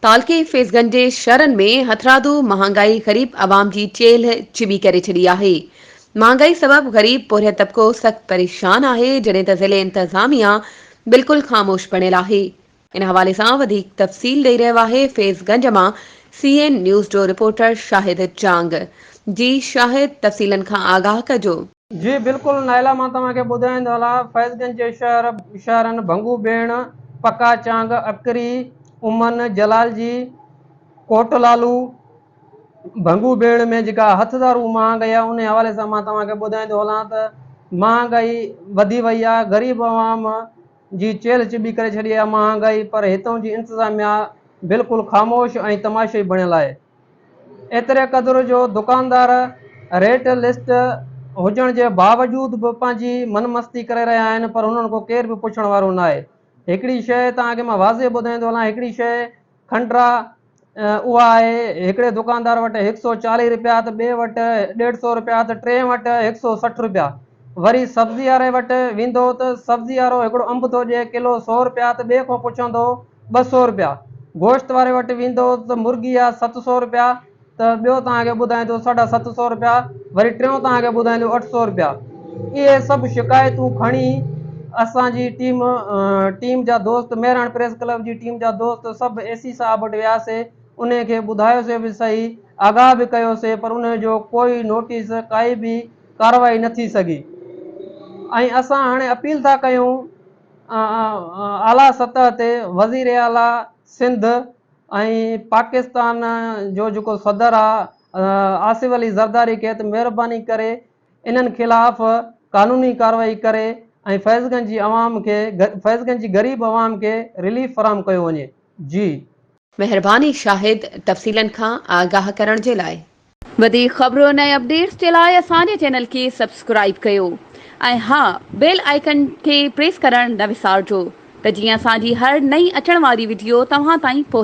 تعلقي فيضگنج جي شھرن ۾ ھٿرادو مھانگائي غريب عوام جي چيلھه چٻي ڪري ڇڏي آھي، مھانگائي سبب غريب پورھيت طبقو سخت پريشان آھي جڏھن ته ضلعي انتظاميا بلڪل خاموش بڻيل آھي، ان حوالي سان وڌيڪ تفصيل ڏئي رھيو آھي فيضگنج مان سي اين نيوز جو رپورٽر شاھد چانگ، جي شاھد تفصيلن کان آگاھ ڪجو. جي بلڪل نائلا مان توهان کي ٻڌائين ته هلان فيض گنج جي شهر شهرن ڀنگو بيڻ، پڪا چانگ، اڪري، امن، جلال جي، ڪوٽ لالو، ڀنگو بيڻ ۾ جيڪا هٿ ڌارو مهانگائي آهي انهي حوالي سان مان توهان کي ٻڌائين ٿو هلان ته مهانگائي وڌي وئي آهي غريب عوام جي چيلهه چٻي ڪري ڇڏي آهي مهانگائي پر هتون جي انتظاميا بلڪل خاموش ۽ تماشائي بڻيل آهي. ايتري قدر جو دڪاندار ريٽ لسٽ هجڻ جي باوجود به پنهنجي من مستي ڪري رهيا آهن پر هنن کان ڪير به پڇڻ وارو ناهي. هڪڙي شيء توهان کي مان واضح ٻڌائيندو هلان هڪڙي شيء کنڊرا اها آهي هڪڙي دڪاندار وٽ هڪ سئو چاليهه رپيا ته ٻئي وٽ ڏيڍ سئو رپيا ته ٽئين وٽ هڪ سئو سٺ رپيا. وري سبزي واري وٽ ويندو ته سبزي وارو هڪڙو انب ٿو ڏئي ڪلو سئو رپيا ته ٻئي کان پڇندو ٻه سؤ رپيا گوشت واري وٽ ويندو ته مرغي جا ست سؤ رپيا ته ٻيو توهان کي ٻڌائيندو ساڍا ست سؤ رپيا وري ٽيون توهان کي ٻڌائيندو اٺ سؤ رپيا اهي سڀ شڪايتون کڻي اسان جي ٽيم ٽيم جا دوست مهراڻ پريس ڪلب جي ٽيم جا دوست سڀ اي سي صاحب وٽ وياسي ان کي ٻڌايوسي به صحيح آگاهه به ڪيوسي پر ان جو ڪوئي نوٽيس ڪائي به ڪارروائي نه ٿي سگهي ۽ اسان هاڻي اپيل ٿا ڪيون اعليٰ سطح تي وزير اعليٰ سنڌ ۽ پاڪستان جو جيڪو صدر آ آصف علي زرداري کي ته مهرباني ڪري انهن خلاف قانوني ڪارروائي ڪري ۽ فيض گنج جي عوام کي فيض گنج جي غريب عوام کي رليف فراهم ڪيو وڃي جي مهرباني شاهد تفصيلن کان آگاهه ڪرڻ جي لاء. وڌيڪ خبرن ۽ اپڊيٽس جي لاء اسان جي چينل کي سبسڪرائيب ڪيو ۽ ها بيل آئيڪن کي پريس ڪرڻ نه وسارجو ته جيئن اسان جي هر نئين اچڻ واري وڊيو توهان تائين پهچي.